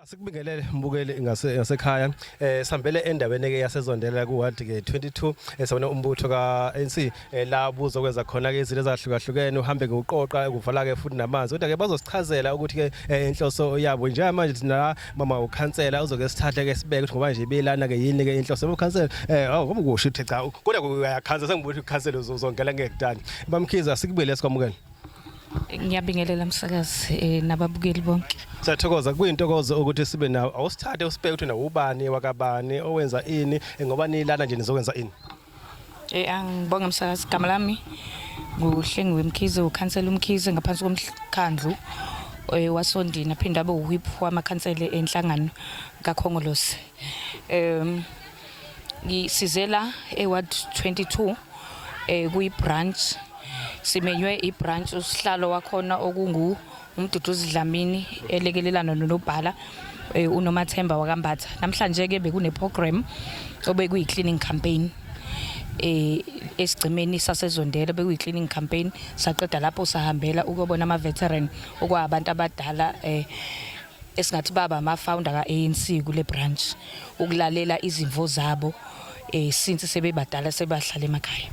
Sikubingelele mbukeli ngasekhaya eh sambele endaweni ke yasezondela ku ward ke 22 esabona umbutho ka ANC eh, la buzokwenza khona ke izinto ezahlukahlukene uhambe ngoqoqa ukuvala ke futhi namanzi kodwa ke bazosichazela ukuthi ke eh, inhloso yabo nje manje thina mama ukhansela uzoke sithathe ke sibeke ukuthi ngoba nje belana ke yini ke inhloso ukhansela eh awu ngoba kusho ukuthi cha kodwa uyakhansela sengibuthi ukhansela uzongela ngekudala bamkhiza sikubele sikwamukela ngiyabingelela msakazi eh, nababukeli bonke siyathokoza kuyintokozo ukuthi sibe nawo awusithathe usibheke ukuthi nawo ubani wakabani owenza ini eh, ngoba nilana nje nizokwenza ini Eh angibonge msakazi igama lami nguHlengiwe Mkhize ukhansela uMkhize ngaphansi komkhandlu eh, wasondini aphinde abe uwhip wamakhansela enhlangano kaKhongolose. Em ngisizela eward 22 eh kuyibranch simenywe ibranch usihlalo wakhona okungu umduduzi Dlamini elekelelana nonobhala eh, unomathemba wakambatha namhlanje ke bekune program obekuyi cleaning campaign eh esigcimeni sasezondela bekuyi cleaning campaign saqeda lapho sahambela ukubona ama veteran okwabantu abadala eh esingathi baba ama-founder ka-anc kule branch ukulalela izimvo zabo um since sebebadala sebahlala emakhaya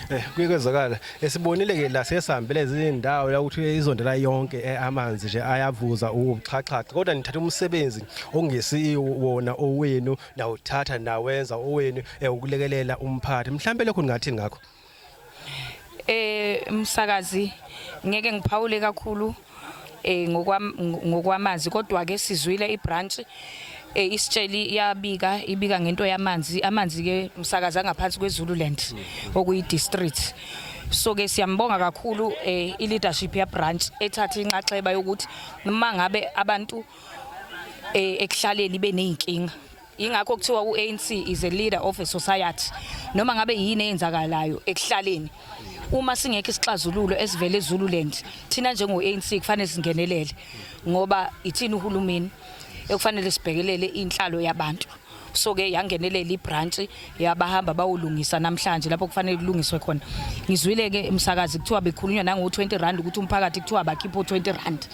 Eh kuyekwezakala esibonile ke la sesihambele izindawo la ukuthi izonto la yonke eh, amanzi nje ayavuza ubuxhaxhaxa kodwa nithatha umsebenzi ongesi wona owenu nawuthatha nawenza owenu eh, ukulekelela umphathi mhlambe lokho ningathi ngakho Eh msakazi ngeke ngiphawule kakhulu eh ngokwamazi kodwa ke sizwile ibranch eh isitsheli iyabika ibika ngento yamanzi amanzi ke msakaza ngaphansi kweZululand okuyi district so ke siyambonga kakhulu eh i leadership ya branch ethatha inxaxheba yokuthi uma ngabe abantu eh ekuhlaleni beneyinkinga Ingakho kuthiwa uANC is a leader of a society. Noma ngabe yini eyenzakalayo ekuhlaleni. Uma singekho isixazululo esivele eZululand, thina njengoANC kufanele singenelele ngoba ithini uhulumeni ekufanele sibhekelele inhlalo yabantu. So ke yangenelela ibranch yabahamba bawulungisa namhlanje lapho kufanele kulungiswe khona ngizwile ke umsakazi kuthiwa bekhulunywa nango 20 rand ukuthi umphakathi kuthiwa bakhipha 20 rand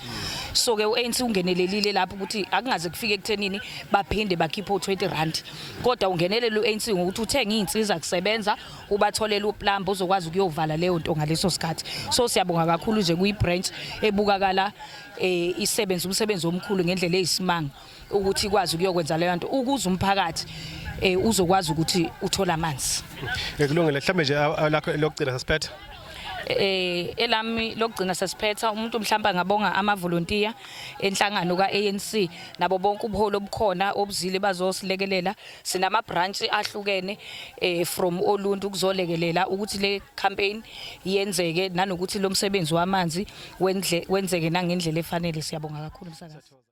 so ke uANC ungenelelile lapho ukuthi akungaze kufike kuthenini baphinde bakhipha 20 rand kodwa ungenelela uANC ngokuthi uthenga izinsiza kusebenza ubatholela uplumber uzokwazi ukuyovala leyo nto ngaleso sikhathi so siyabonga kakhulu nje kuyi branch ebukakala eh isebenza umsebenzi omkhulu ngendlela eyisimanga ukuthi ikwazi ukuyokwenza leyo nto ukuze umphakathi eh uzokwazi ukuthi uthola amanzi ngikulungile mhlambe nje lakho lokugcina sasiphetha eh elami lokugcina sesiphetha umuntu mhlawumbe angabonga amavolontiya enhlangano kaANC nabo bonke ubuholi obukhona obuzile bazosilekelela sinama branch ahlukene eh from oluntu kuzolekelela ukuthi le campaign yenzeke nanokuthi lo msebenzi wamanzi wenzeke nangendlela efanele siyabonga kakhulu msakazi